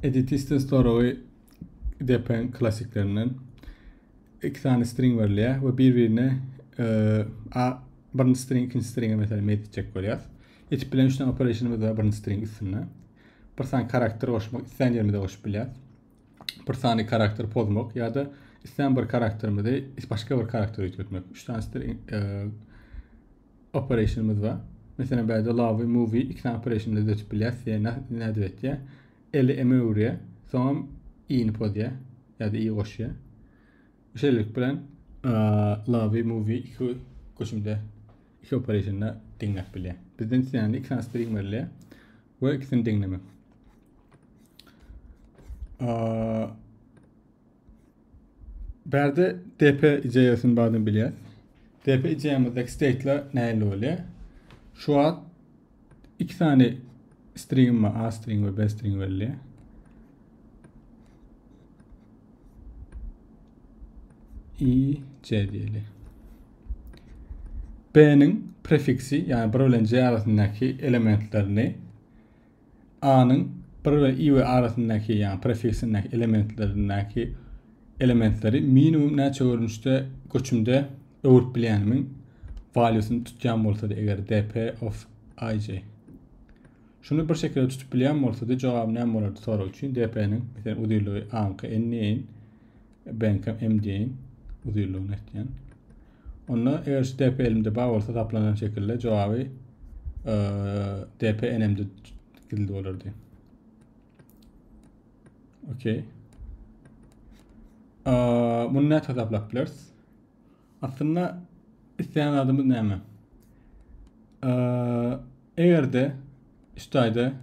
Editisten storagy depen klassiklerinden iki sany string berilýär we bir-birine a birinji string ikinji stringe meselem map etjek bolýar. Etip bilen üçden operationymyz bar birinji string üstünde. Bir sany karakter goşmak isleýän ýerimize goşup bilýär. Bir sany karakter pozmak ýa-da isleýän bir karakterimizi başga bir karakter üýtgetmek. Üç sany string e, operationymyz bar. Meselem bärde lawy, movie iki sany operationda düzetip bilýäs. Diýä, nädip etýä? Eli eme öwürýä, soňam i-ni pozýa ýa-da i goşýa. Şeýlelik bilen lawy, movie iki göçümde iki operationda deňläp bilýär. Bizden islände iki sany string berilýär we ikisini deňlemek. Bärde DP ideýasyny bardygyny bilýäs. DP ideýamyzdaki state'ler nähili bolýar? Şu wagt iki sany string we A string we B string berilýär. I, C diýeli. B-niň prefiksi, ýagny bir bilen C arasyndaky elementlerini A-nyň bir we i we arasyndaky, ýagny prefiksindäki elementlerindäki elementleri minimum näçe görnüşde göçümde öwürip bilýänimiň walýusyny tutýan bolsady eger dp of ij. Şuny bir şekilde tutup bilýän bolsady jogap näme bolardy sorag üçin dp-niň, meselem, uzynlygy a-nyňky n-i, Benkam MD-iň uzynlygyny etýän. Onda eger şu DP elimde bar bolsa taplanan şekilde jogaby e, DP enemde gizli bolardy. Okey. E, bunu näçe hesaplap bileris? Aslynda isleýän adymyz näme? E, eger de Üstaýda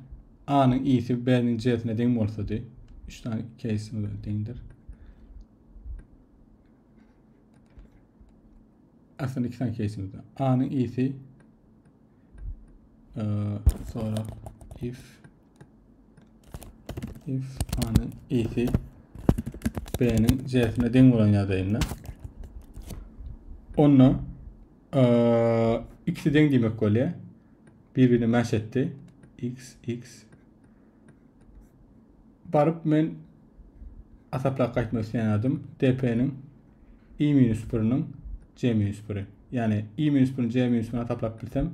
A-nyň i-si B-niň J-sine deň bolsady. Üç sany keýsimiz bilen deňdir. Aslynda iki sany keýsimiz bar. A-nyň i-si e, sonra if if A-nyň i-si B-niň J-sine deň bolan ýagdaýynda onda e, ikisi deň diýmek bolýar. Bir-birine mäş etdi. X, X. Baryp men asaplap gaýtmak isleýän adym DP-niň i minus 1-niň c minus 1-i. Ýagny i minus 1-ni c minus 1-ni asaplap bilsem,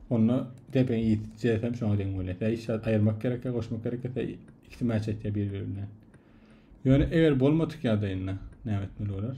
onda DP-niň i c hem şoňa deň bolýar. Ýa işe aýyrmak gerek, ýa goşmak gerek, ýa ikisi mäş etýär bir-biri bilen. Ýöne eger bolmadyk ýagdaýynda näme etmeli bolar?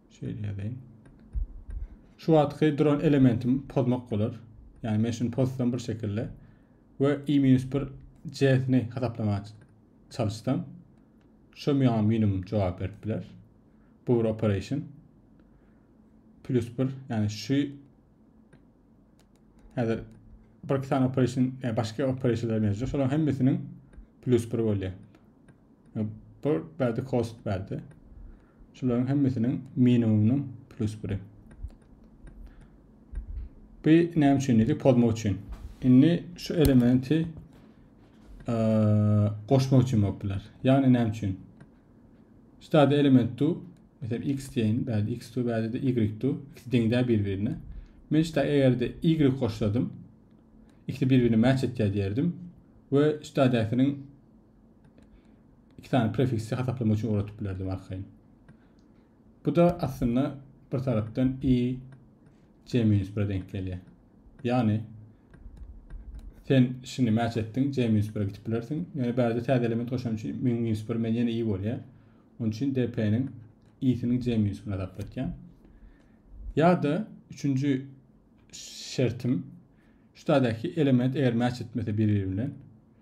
Şeýle ýazaýyn. Şu wagtky duran elementimi pozmak bolar. Ýagny men şuny pozsam bir şekilde we i-1 c-sini hasaplamaga çalyşsam, şu maňa minimum jogap berip biler. Bu bir operation. Plus 1, ýagny şu Häzir bir iki sany operation, yani başka operationlar mevcut. Şoların hemmesiniň plus bir bolýar. Bir bärde cost bärde. Şoların hemmesiniň minimumynyň plus biri. Bu näme üçin dedik? Pozmak üçin. Indi şu elementi e, goşmak üçin bolup biler. Yani näme üçin? Stade element tu, mesela x diýeýin, bärde x tu, bärde de y tu, ikisi deň däl bir-birine. Men şita eger-de y goşsadym, ikisi bir-birine match etýär diýerdim we şitadäkiniň iki sany prefiksi hasaplamak üçin ugradyp bilerdim arkaýyn. Bu da aslynda bir tarapdan y c minus 1 denk gelýär. Ýagny sen şini mäç etdiň, J minus bire gidip bilersiň. Ýöne bärde täze element goşan üçin min minus bir men ýene i bolýar. Onuň üçin DP-niň i-siniň J minus birini hasaplatýan. Ýa-da üçünji şertim şu taýdaky element eger mäç etmese biri bilen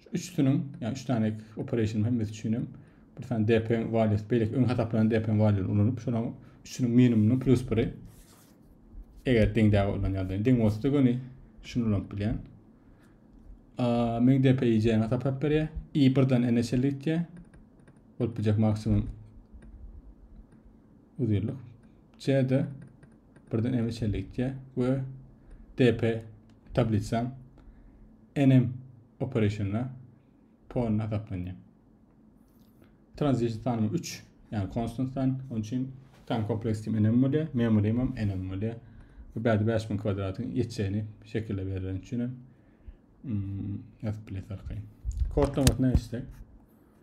Şu üçüsiniň, ýa üç sany operation hemmesi üçin hem bir sany DP values, beýleki öň hasaplanan DP values ulanyp, şonuň üçüniň minimumynyň plus biri eger deňdäge ulanýardy. Deň bolsa göni şunu ulanyp bilýän. Meň DP ýeýjäni hasaplap berýär. I birden N-e çenli gitýär. Bolup biljek maksimum uzynlyk CD birden M içerlik gitýär we DP tablisa NM operasyonda pon hasaplanýar. Transition sanymı 3, yani constant san, onun için tam kompleks kim NM bolýar, memory hem NM bolýar. Bu bädi 5000 kwadratyn ýetjegini şekilde berlen üçin hem hmm, ýazyp bileris arkaýyn. Kod nomatyna geçsek.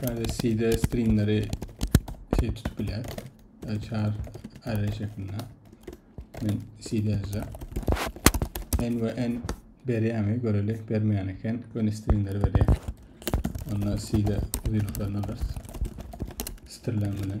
Şöyle CD stringleri şey tutup bile. Çar array şeklinde. Men CD yazacağım. N ve N berýärmi göreli bermeýän eken göni stringleri berýär onda CD uzynlyklaryny alyrys stirlen bilen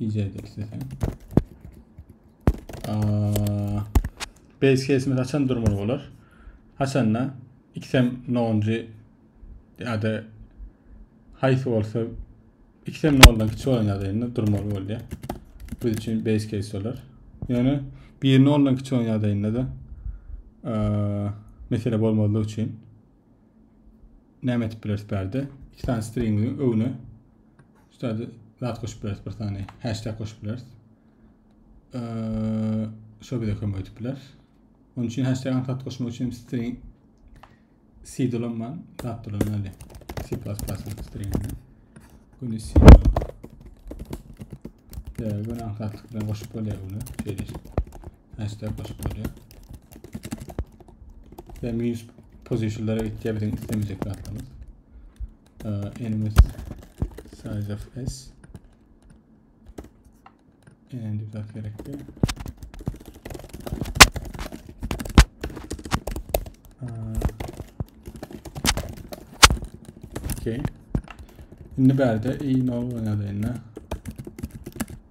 Iýjäýdi isteseň. Base case'imiz haçan durmaly bolar? Haçanda ikisem nonji ýa-da haýsy bolsa ikisem noldan kiçi bolan ýagdaýynda durmaly bolýar. Biz üçin base case bolar. Ýöne bir noldan kiçi bolan ýagdaýynda da mesele bolmazlyk üçin näme etip bileris bu ýerde? Iki sany stringiň öňüne şu ýerde zat goşup bileris, bir sany hashtag goşup bileris. Şo bize kömek edip biler. Onun için hashtag anahtar koşmak için string C dolanman zat dolanmaly. C++ string. Bunu C dolan. Ve bunu anahtarlık bilen koşup böyle bunu şeyleştirdim. Hashtag goşup bolýar. Ve minus positionlara gitýär biziň islemejek zatlarymyz. Enemies size of s. Enem dip zat gerekdi. Okay. Şimdi berde iyi ne olur ne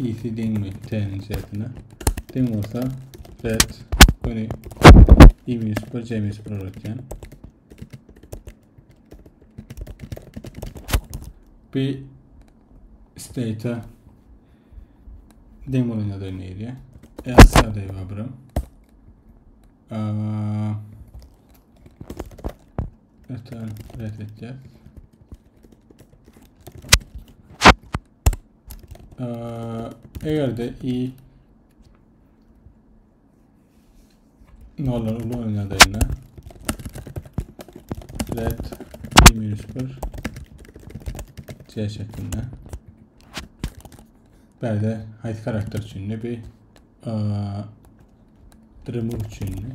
Isi deňmi t-niň şertine? Deň bolsa red göni i minus 1 c minus 1 bolar eken. Bu state'a deň bolan ýagdaý ne edýär? Else ýagdaýy bar birim. Öten red etýär. eger de i nollar ulan ýagdaýynda let i minus 1 c şeklinde berde haýsy karakter üçin bir remove üçin